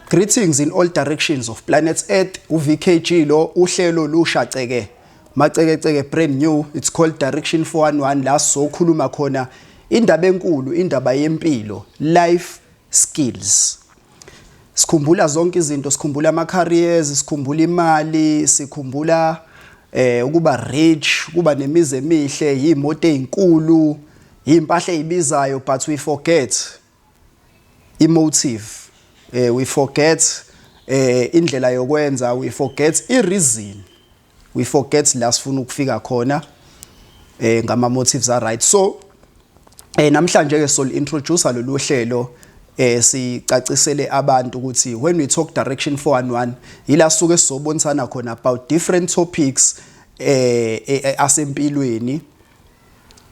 Greetings in all directions of planets Earth uVKG lo uhlelo lusha ceke maceke ceke brand new it's called direction 411 la sokhuluma khona indaba enkulu indaba yempilo life skills sikhumbula zonke izinto sikhumbula ama careers sikhumbula imali sikhumbula eh ukuba rich kuba nemizi emihle yimoto ezinkulu impahla ezibizayo but we forget i motive eh we forget eh indlela yokwenza we forget i reason we forget la sifuna ukufika khona eh ngama motives are right so eh namhlanje ke sol introducer lolu hlelo eh sicacisele abantu ukuthi when we talk direction 411 yila suke sizobonisana khona about different topics eh, eh, eh asempilweni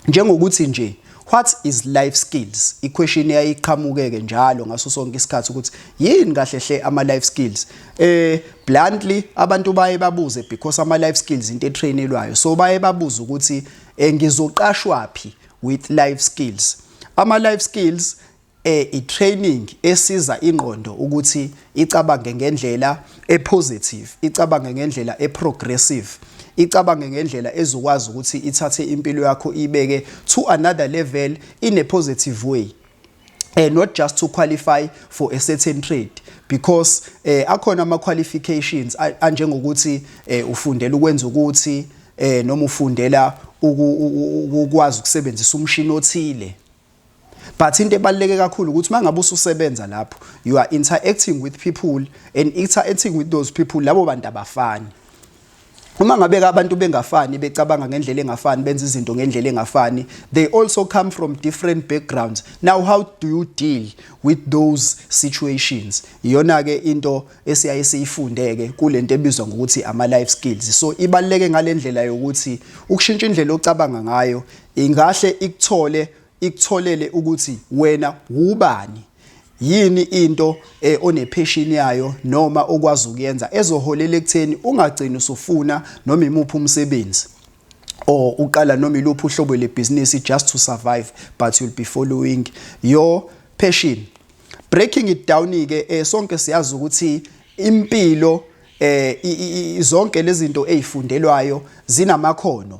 Njengokuthi nje what is life skills iquestion eyayiqhamukeke njalo ngaso sonke isikhathi ukuthi yini kahle hle ama life skills eh bluntly abantu baye babuze because ama life skills into etrainelwayo so baye babuza ukuthi eh, ngizoqashwa phi with life skills ama life skills e, i-training esiza ingqondo ukuthi icabange ngendlela e-positive, icabange ngendlela e-progressive, icabange ngendlela ezokwazi ukuthi ithathe impilo yakho ibeke to another level in a positive way uh, not just to qualify for a certain trade because eh akhona ama qualifications anjengokuthi eh ufundela ukwenza ukuthi eh noma ufundela ukwazi ukusebenzisa umshini othile But into ebaluleke kakhulu ukuthi mangabe ususebenza lapho you are interacting with people and interacting with those people labo bantu abafani. Uma ngabe abantu bengafani becabanga ngendlela engafani benza izinto ngendlela engafani they also come from different backgrounds. Now how do you deal with those situations? Iyona ke into esiyaye siyifundeke kulento ebizwa ngokuthi ama life skills. So ibaluleke ngalendlela yokuthi ukushintsha indlela ocabanga ngayo Ingahle ikuthole ikutholele ukuthi wena wubani yini into eh, onepheshini yayo noma okwazi ukuyenza ezoholela ekutheni ungagcini usufuna noma imuphi umsebenzi or uqala noma iluphi uhlobo lebhizinisi just to survive but you'll be following your passion breaking it down ke eh, sonke siyazi ukuthi impilo eh zonke lezi zinto ezifundelwayo zinamakhono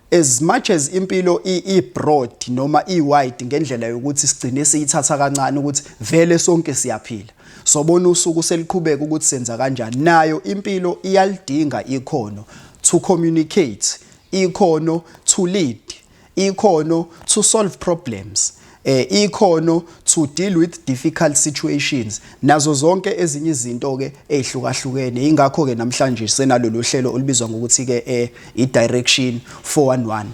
as much as impilo i-broad noma i-wide ngendlela yokuthi sigcine siyithatha kancane ukuthi vele sonke siyaphila sobona usuku seliqhubeka ukuthi senza kanjani nayo impilo iyalidinga ikhono to communicate ikhono to lead ikhono to solve problems eh ikhono to deal with difficult situations nazo zonke ezinye izinto ke ezihlukahlukene ingakho ke namhlanje senalolu hlelo olubizwa ngokuthi ke eh i direction 411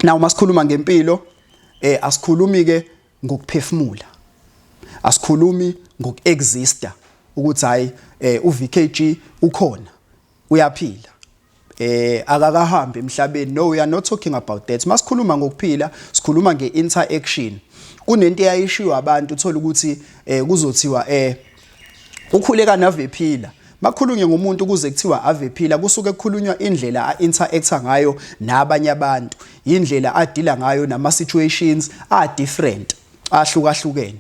now masikhuluma ngempilo eh asikhulumi ke ngokuphefumula asikhulumi ngokuexister ukuthi hayi eh uVKG ukhona uyaphila eh akakahambi emhlabeni no we are not talking about that masikhuluma ngokuphila sikhuluma ngeinteraction kunento eyayishiwa abantu uthola ukuthi eh kuzothiwa eh ukhuleka nave phila makhulunye ngomuntu ukuze kuthiwa ave phila kusuke kukhulunywa indlela a-interacta ngayo nabanye abantu yindlela adila ngayo nama-situations a-different ahlukahlukene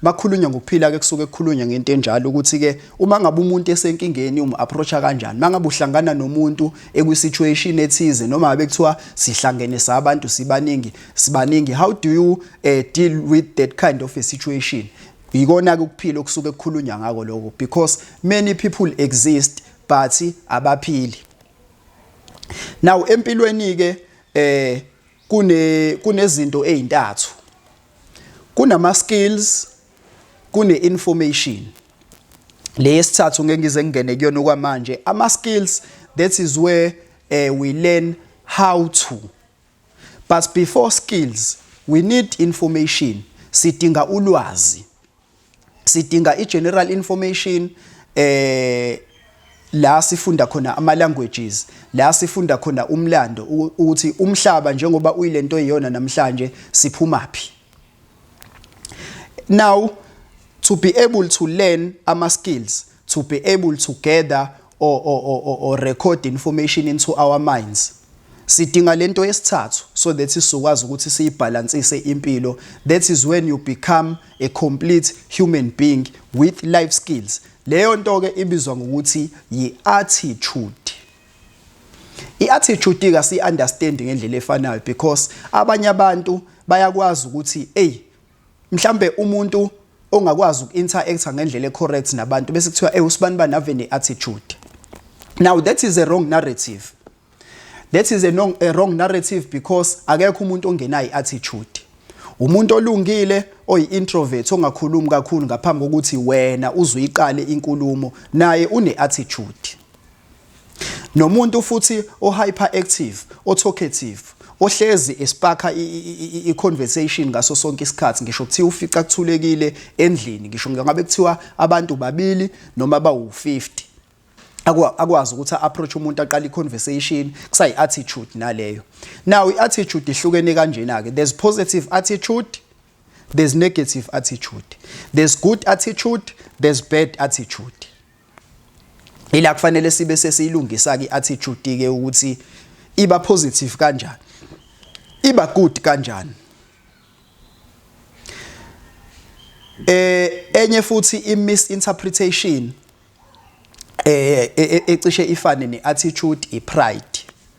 makhulunywa ngokuphila ke kusuke kukhulunywa ngento enjalo ukuthi ke uma ngabe umuntu esenkingeni um approacha kanjani mangabe uhlangana nomuntu ekwi situation ethize noma ngabe kuthiwa sihlangene sabantu sibaningi sibaningi how do you uh, deal with that kind of a situation yikona ke ukuphila okusuke kukhulunywa ngako lokho because many people exist but abaphili now empilweni ke eh kune kunezinto ezintathu kunama skills kune information leyesithathu ngeke ngize ngingene kuyona okwamanje ama skills that is where uh, we learn how to but before skills we need information sidinga ulwazi sidinga i-general information eh la sifunda khona ama languages la sifunda khona umlando ukuthi umhlaba njengoba uyilento eyiyona namhlanje siphuma phi now to be able to learn ama skills to be able to gather or, or, or, or record information into our minds sidinga lento yesithathu so that sizokwazi ukuthi siyibhalansise impilo that is when you become a complete human being with life skills leyo nto ke ibizwa ngokuthi yi-attitude i-attitude ka si-understand ngendlela efanayo because abanye abantu bayakwazi ukuthi eyi mhlambe umuntu ongakwazi uku-interact ngendlela e-correct nabantu bese kuthiwa ewu sibani bani ave ne-attitude now that is a wrong narrative that is a, no, a wrong narrative because akekho umuntu ongenayo i-attitude umuntu olungile oyi-introvert ongakhulumi kakhulu ngaphambi kokuthi wena uzuyiqale inkulumo naye une-attitude Nomuntu futhi o-hyperactive, o-talkative, ohlezi espakha i-conversation ngaso sonke isikhathi ngisho kuthiwa ufica kuthulekile endlini ngisho ngabe kuthiwa abantu babili noma bawu-50 akwazi ukuthi a-approach umuntu aqale i-conversation kusayi-attitude naleyo now i-attitude ihlukene kanjena-ke there's positive attitude there's negative attitude there's good attitude there's bad attitude ila kufanele sibe sesiyilungisa ke attitude ke ukuthi iba positive kanjani iba good kanjani eh enye futhi i misinterpretation eh e, e, ecishe ifane ne attitude i pride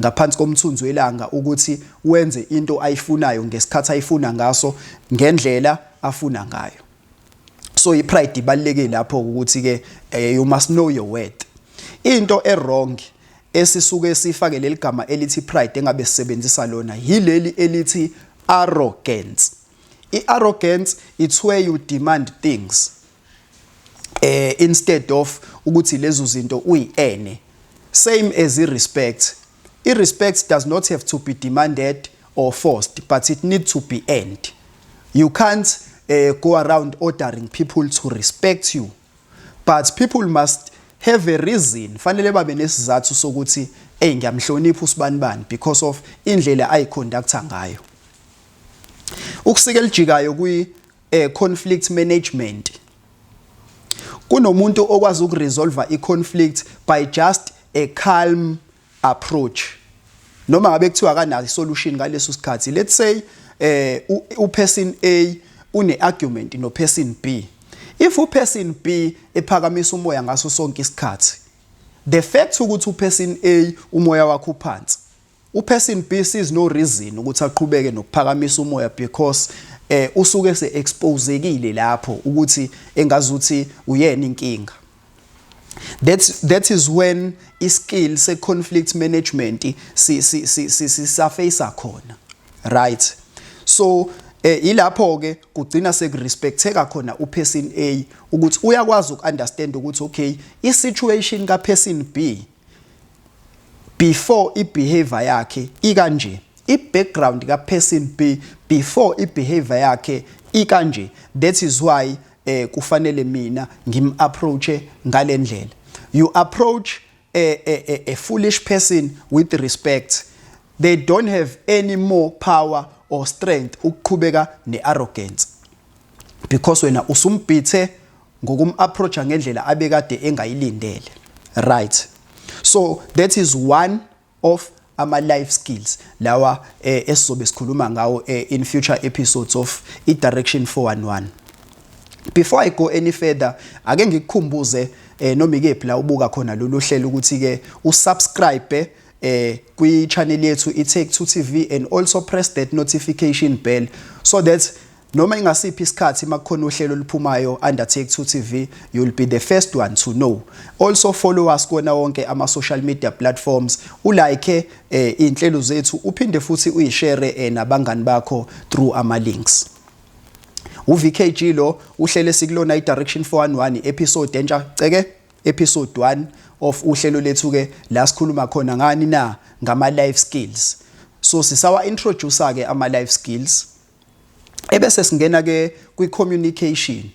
ngaphansi komthunzi welanga ukuthi wenze into ayifunayo ngesikhathi ayifuna ngaso ngendlela afuna ngayo so ipride ibalekile lapho ukuthi ke eh, you must know your worth into ewrong esisuke sifake leli gama elithi pride engabe sisebenzisa lona yileli elithi arrogance i-arrogance it's where you demand things eh instead of ukuthi lezo zinto uyiene same as i respect i respect does not have to be demanded or forced but it need to be earned you can't uh, go around ordering people to respect you but people must have a reason fanele babe nesizathu sokuthi hey ngiyamhlonipha usibani bani because of indlela ayiconductor ngayo ukusika elijikayo kwi eh conflict management kunomuntu okwazi ukuresolve iconflict by just a calm approach noma ngabe kuthiwa kanayo isolution ngaleso sikhathi let's say eh uperson A une argument no person B if uperson B ephakamisa umoya ngaso sonke isikhathi the fact ukuthi uperson A umoya wakhe uphansi UPercy Mpi sees no reason ukuthi aqhubeke nokuphakamisa umoya because eh usuke se exposekile lapho ukuthi engazuthi uyena inkinga that's that is when iskill se conflict management si si si si surface khona right so eh ilapho ke kugcina sekurespecteka khona uperson A ukuthi uyakwazi ukuunderstand ukuthi okay isituation kaperson B before ibehavior yakhe ikanje ibackground kaperson B before ibehavior yakhe ikanje that is why eh kufanele mina ngim approache ngalendlela you approach a, a, a, a foolish person with respect they don't have any more power or strength ukuqhubeka nearrogance because wena usumbhithe ngokumapproacha ngendlela abekade engayilindele right so that is one of ama life skills lawa eh, esizobe sikhuluma ngawo eh, in future episodes of i direction 411 before i go any further ake ngikukhumbuze eh, noma ikephi la ubuka khona lolu hlelo ukuthi ke usubscribe eh kwi channel yethu iTake to TV and also press that notification bell so that noma ingasiphi isikhathi makukhona uhlelo oluphumayo under Take to TV you'll be the first one to know also follow us kona wonke ama social media platforms ulike eh inhlelo zethu uphinde futhi uyishare eh, nabangani bakho through ama links uVKG lo uhlele sikulona iDirection 411 episode entsha ceke Episode 1 of uhlelo lethu ke la sikhuluma khona ngani na ngama life skills so sisawa introducer ke ama life skills ebese singena ke kwi communication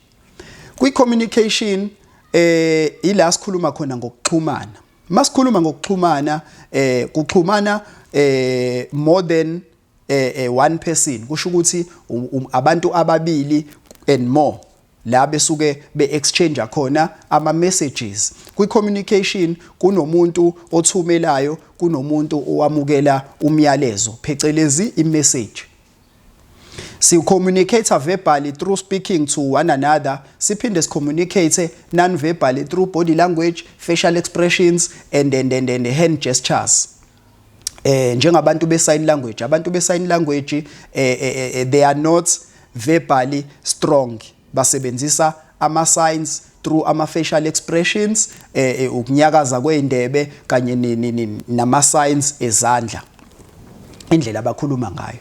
kwi communication eh ila sikhuluma khona ngokuxhumana masikhuluma ngokuxhumana eh kuxhumana eh more than eh, eh one person kusho ukuthi um, um, abantu ababili and more la besuke be-exchange khona ama-messages kwi-communication kunomuntu othumelayo kunomuntu owamukela umyalezo phecelezi i-message sicommunicate verbally through speaking to one another siphinde sicommunicate non-verbally through body language facial expressions and, and, and, and hand gestures eh njengabantu be sign language abantu be sign language eh, eh, eh, eh they are not verbally strong basebenzisa ama signs through ama facial expressions eh, eh ukunyakaza kweindebe kanye nama signs ezandla indlela abakhuluma ngayo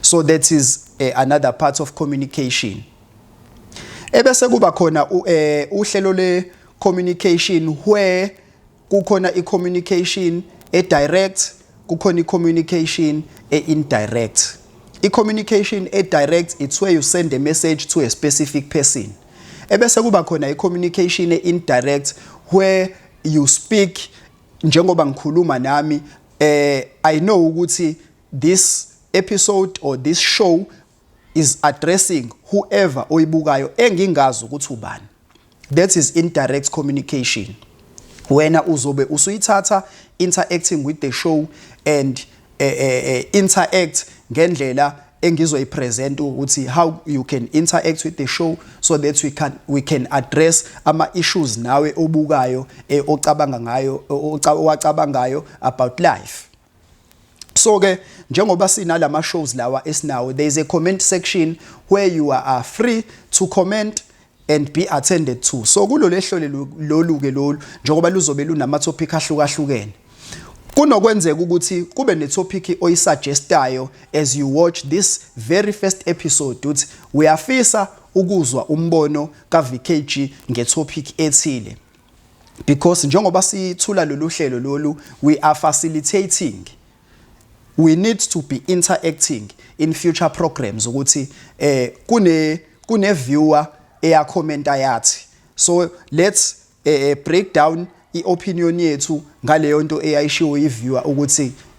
so that is eh, another part of communication ebese kuba khona eh, uhlelo le communication where Kukhona i-communication e-direct, kukhona i-communication e-indirect. I-communication e-direct it's where you send a message to a specific person. Ebese kuba khona i-communication e-indirect where you speak njengoba ngikhuluma nami eh I know ukuthi this episode or this show is addressing whoever oyibukayo engingazi ukuthi ubani that is indirect communication wena uzobe usuyithatha interacting with the show and uh, uh, interact ngendlela engizoyipresent ukuthi how you can interact with the show so that we can we can address ama issues nawe obukayo eh, ocabanga ngayo owacabangayo about life so ke njengoba sinalama shows lawa esinawo there is a comment section where you are free to comment and be attended to so kulolu ehlole lolu ke lolu njengoba luzobe lunama topic ahlukahlukene kunokwenzeka ukuthi kube netopic oyisuggestayo as you watch this very first episode uthi uyafisa ukuzwa umbono kaVKG ngetopic ethile because njengoba sithula lolu hlelo lolu we are facilitating we need to be interacting in future programs ukuthi eh kune kune viewer eya commenta yathi so let's eh, eh break down iopinion yethu ngaleyo nto eyayishiwo iviewer ukuthi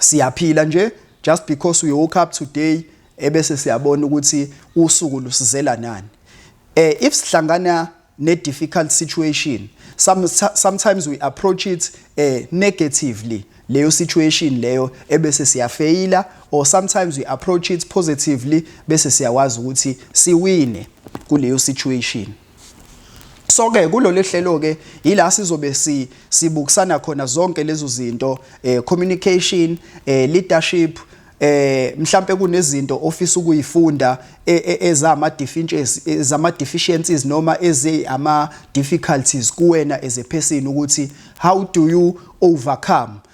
siyaphila nje just because we woke up today ebese siyabona ukuthi usuku lusizela nani eh if sihlangana ne difficult situation some sometimes we approach it eh negatively leyo situation leyo ebese siyafeyila or sometimes we approach it positively bese siyawazi ukuthi siwine kuleyo situation so ke kulolu hlelo ke yila sizobe si sibukisana khona zonke lezo zinto eh communication eh leadership eh mhlambe kunezinto ofisa ukuyifunda e, e, ezama deficiencies ezama deficiencies noma eze ama difficulties kuwena as a person ukuthi how do you overcome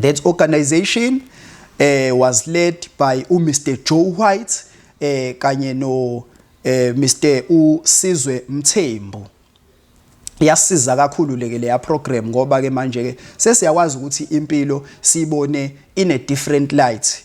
That organization uh, was led by u Mr Joe White eh kanye no uh, eh, Mr uSizwe Mthembu yasiza kakhulu leke leya program ngoba ke manje ke sesiyakwazi ukuthi impilo sibone in a different light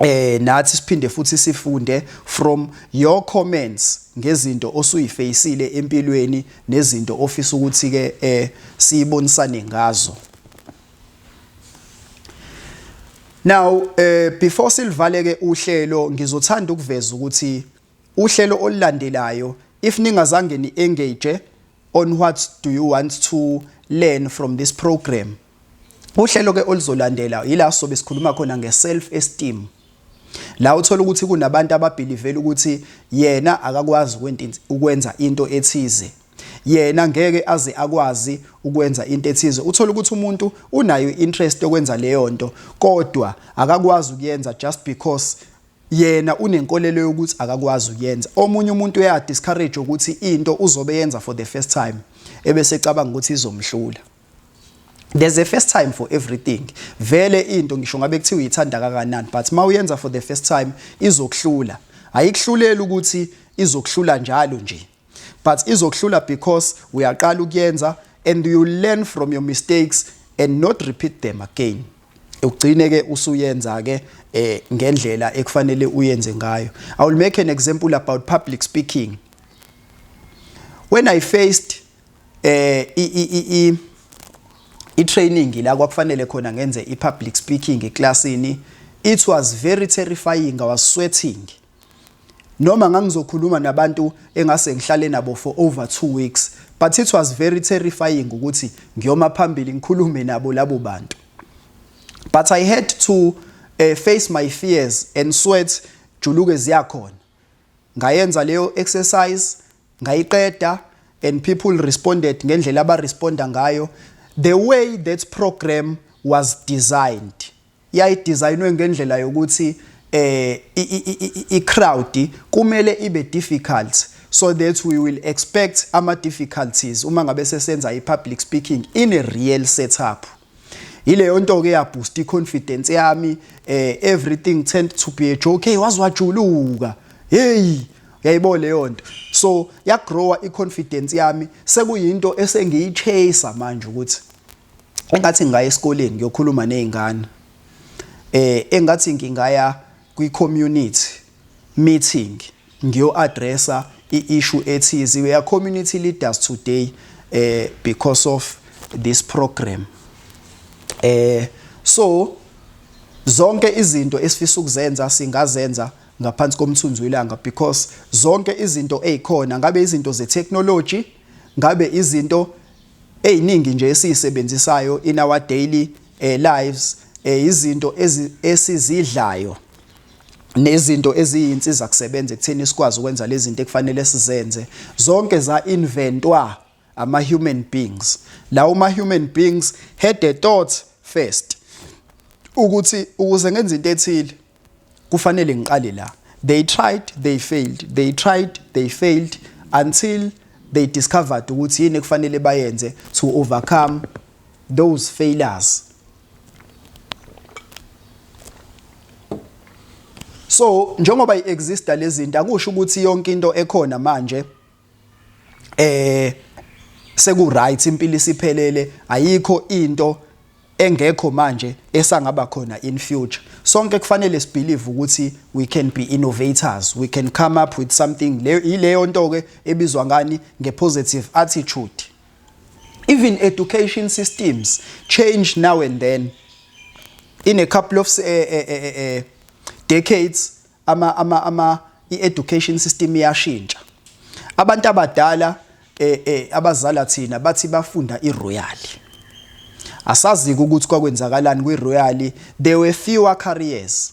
eh nathi siphinde futhi sifunde from your comments ngezinto osuyifacile empilweni nezinto ofisa ukuthi ke eh siyibonisane ngazo Now eh before silivaleke uhlelo ngizothanda ukuveza ukuthi uhlelo olulandelayo if ningazange ni engage on what do you want to learn from this program Uhlelo ke oluzolandela yila sobe sikhuluma khona nge self esteem. La uthola ukuthi kunabantu ababhilivela ukuthi yena akakwazi ukwenza into ethize. Yena ngeke aze akwazi ukwenza into ethize. Uthola ukuthi umuntu unayo interest yokwenza leyo nto kodwa akakwazi ukuyenza just because yena unenkolelo yokuthi akakwazi ukuyenza. Omunye umuntu uya discourage ukuthi into uzobe yenza for the first time ebese ecabanga ukuthi izomhlula. there's a first time for everything vele into ngisho ngabe kuthiwa uyithanda kangakanani but uma uyenza for the first time izokuhlula ayikuhluleli ukuthi izokuhlula njalo nje but izokuhlula because uyaqala ukuyenza and you learn from your mistakes and not repeat them again ugcine ke usuyenza ke eh ngendlela ekufanele uyenze ngayo i will make an example about public speaking when i faced eh i i i i training la kwakufanele khona ngenze i public speaking eclassini it was very terrifying i was sweating noma ngangizokhuluma nabantu engase ngihlale nabo for over 2 weeks but it was very terrifying ukuthi ngiyoma phambili ngikhulume nabo labo bantu but i had to uh, face my fears and sweat juluke ziyakhona ngayenza leyo exercise ngayiqeda and people responded ngendlela abaresponda ngayo the way that program was designed yayidesignwe ngendlela yokuthi eh i-crowd kumele ibe difficult so that we will expect ama difficulties uma ngabe sesenza i-public speaking in a real setup yileyo nto ke yaboost iconfidence yami eh everything tend to be a joke hey wazi wajuluka hey yayibona leyo nto so yagrowa iconfidence yami sekuyinto esengiyichase manje ukuthi engathi ngingaya esikoleni ngiyokhuluma nezingane eh engathi ngingaya kwi community meeting ngiyo addressa i issue ethize we are community leaders today eh because of this program eh so zonke izinto esifisa ukuzenza singazenza ngaphansi komthunzi welanga because zonke izinto ezikhona ngabe izinto ze technology ngabe izinto eziningi nje esizisebenzisayo in our daily eh, lives eh, izinto esizidlayo nezinto eziyinsiza kusebenza ekutheni sikwazi ukwenza lezi zinto ekufanele sizenze zonke za inventwa ama human beings lawo ma human beings had a thought first ukuthi ukuze ngenze into ethile kufanele ngiqale la they tried they failed they tried they failed until they discovered ukuthi yini ekufanele bayenze to overcome those failures so njengoba iexista lezinto akusho ukuthi yonke into ekhona manje eh seku right impilo isiphelele ayikho into engekho manje esangaba khona in future sonke kufanele sibelieve ukuthi we can be innovators we can come up with something leyo ileyo nto ke ebizwa ngani ngepositive attitude Even education systems change now and then. In a couple of uh, uh, uh, decades, ama, ama, ama, i-education system iyashintsha. Abantu abadala eh, eh, abazala thina bathi bafunda iroyali. Asazi ukuthi kwakwenzakalani kwiroyali. There were fewer careers.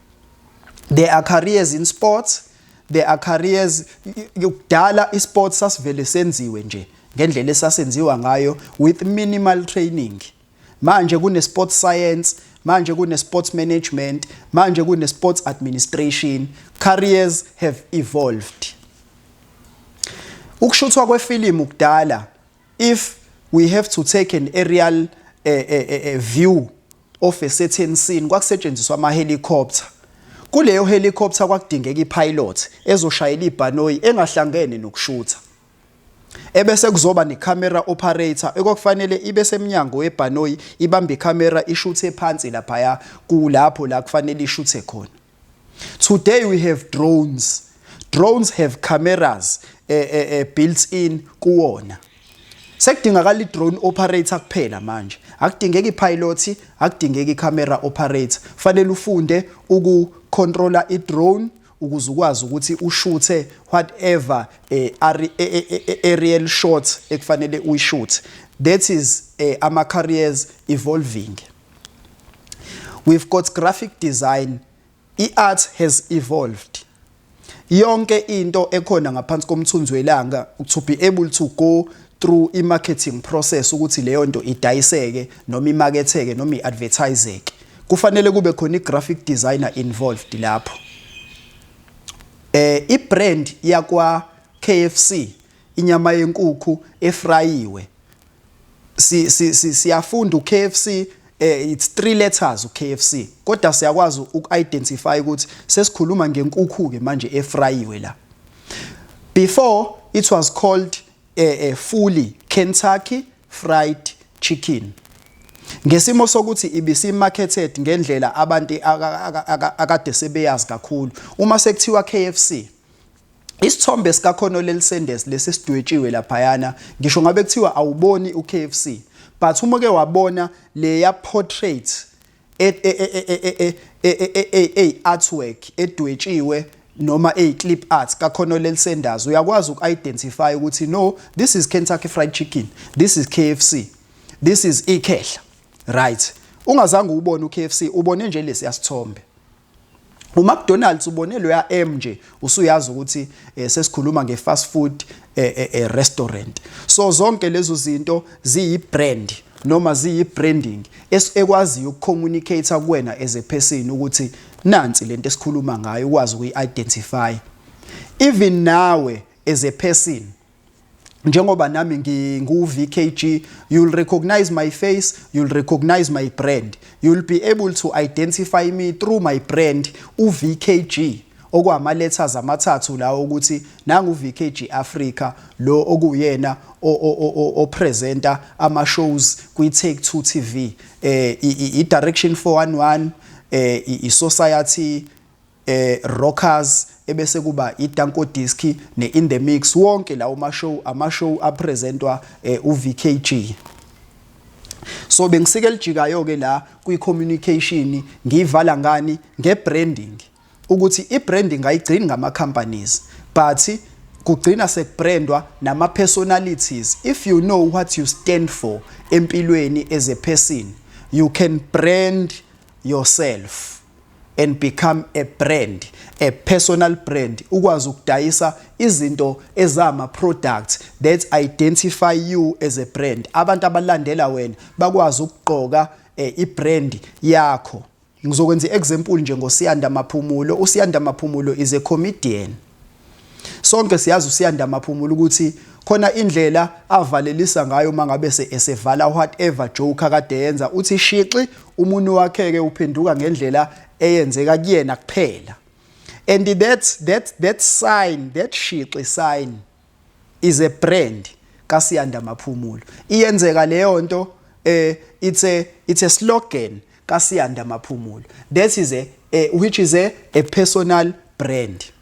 there are careers in sports there are careers kudala isports sasivele senziwe nje ngendlela esasenziwa ngayo with minimal training manje kune sports science manje kune sports management manje kune sports administration careers have evolved ukushuthwa kwefilimu kudala if we have to take an aerial uh, uh, uh, view of a certain scene kwakusetshenziswa ama-helicopter. Kuleyo helicopter kwakudingeka i-pilot ezoshayela ibhanoyi engahlangene nokushutha. Ebese kuzoba ne-camera operator ekwakufanele ibe semnyango webhanoyi ibambe i-camera ishuthe phansi laphaya kulapho la kufanele ishuthe khona. Today we have drones. Drones have cameras eh, eh, eh, built in kuwona. Sekudingakala i-drone operator kuphela manje. Akudingeki pilot, akudingeki camera operator. Fanele ufunde uku controller i-drone ukuze ukwazi ukuthi ushuthe whatever eh, eh, eh, aerial shot ekufanele uyishuthe that is ama careers evolving We've got graphic design. I-art has evolved. Yonke into ekhona ngaphansi komthunzi welanga to be able to go through i-marketing process ukuthi leyo nto idayiseke noma imaketheke noma i-advertiseke kufanele kube khona i-graphic designer involved lapho eh i-brand yakwa KFC inyama yenkukhu efrayiwe si si si siyafunda uKFC eh it's three letters uKFC kodwa siyakwazi ukuidentify ukuthi sesikhuluma ngenkukhu ke manje efrayiwe la before it was called eh, eh fully Kentucky fried chicken ngesimo sokuthi ibisi marketed ngendlela abantu akade sebeyazi kakhulu uma sekuthiwa KFC Isithombe sikaConolel Sanders lesi sidwetshiwe laphayana ngisho ngabe kuthiwa awuboni uKFC but uma ke wabona leya portrait ey artwork edwetshiwe noma ey clip art kaConolel Sanders uyakwazi uku-identify ukuthi no this is Kentucky Fried Chicken this is KFC this is ikhehla right ungazange ubone uKFC ubone nje lesi yasithombe UMcDonald's ubone loya M nje usuyazi ukuthi eh, sesikhuluma nge-fast food eh, eh, eh, restaurant. So zonke lezo zinto ziyi-brand noma ziyi-branding ekwaziyo ukucommunicate kuwena as a person ukuthi nansi lento esikhuluma ngayo ukwazi ukuyi-identify. Even nawe as a person njengoba nami ngingu-vkg you'll recognize my face you'll recognize my brand you'll be able to identify me through my brand u-vkg okwama-letters amathathu lawo ukuthi nangu-vkg africa lo okuyena opresenta ama-shows kwi-take two tv um i-direction 411 um i-society Rockers ebese kuba iDanko Disc ne-In The Mix. Wonke lawo ma-show, ama-show apresentwa uVKG. So bengisike elijikayo-ke la kwi-communication, ngiyivala ngani? Nge-branding. Ukuthi i-branding ayigcini ngama-companies, but kugcina sekubrandwa nama-personalities. If you know what you stand for empilweni as a person, you can brand yourself. and become a brand, a personal brand, ukwazi ukudayisa izinto ezama products that identify you as a brand. Abantu abalandela wena bakwazi ukugqoka eh, ibrand yakho. Ngizokwenza iexample nje ngoSiyanda Maphumulo. USiyanda Maphumulo is a comedian. Sonke siyazi uSiyanda Maphumulo ukuthi khona indlela avalelisa ngayo uma ngabe esevala whatever joke akade yenza uthi shixi umuntu wakheke uphenduka ngendlela eyenzeka kuyena kuphela and that that that sign that shixi sign is a brand kaSiyanda Maphumulo iyenzeka leyo nto eh it's a it's a slogan kaSiyanda Maphumulo that is a, a which is a, a personal brand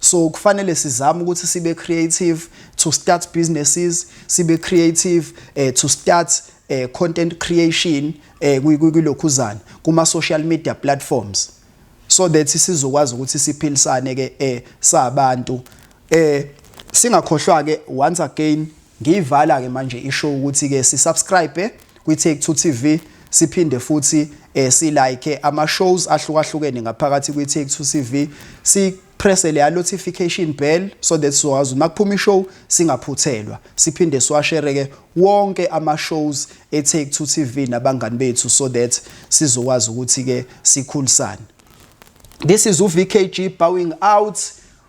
So kufanele sizame ukuthi sibe creative to start businesses, sibe creative eh, to start eh, content creation eh, kulokhuzana kuma social media platforms so that sizokwazi ukuthi siphilisane ke eh sabantu eh singakhohlwa ke once again Ngiyivala ke manje i show ukuthi ke si subscribe kwi Take Two TV siphinde futhi eh, si like ama shows ahlukahlukene ngaphakathi kwi Take Two TV si press le notification bell so that sizowazi uma kuphuma ishow singaphuthelwa siphinde siwashere ke wonke ama shows e Take Two TV nabangani bethu so that sizokwazi ukuthi ke sikhulisane This is uVKG bowing out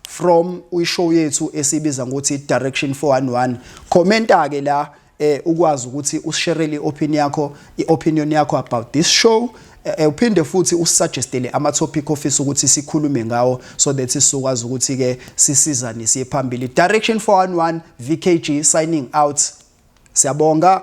from ishow yethu esibiza ngokuthi direction 411 commenta ke la eh ukwazi ukuthi usisherele iopinion yakho iopinion yakho about this show eh, eh, uphinde futhi usuggestele ama topic office ukuthi sikhulume ngawo so that sizokwazi ukuthi ke sisizane siye phambili direction 411 VKG signing out siyabonga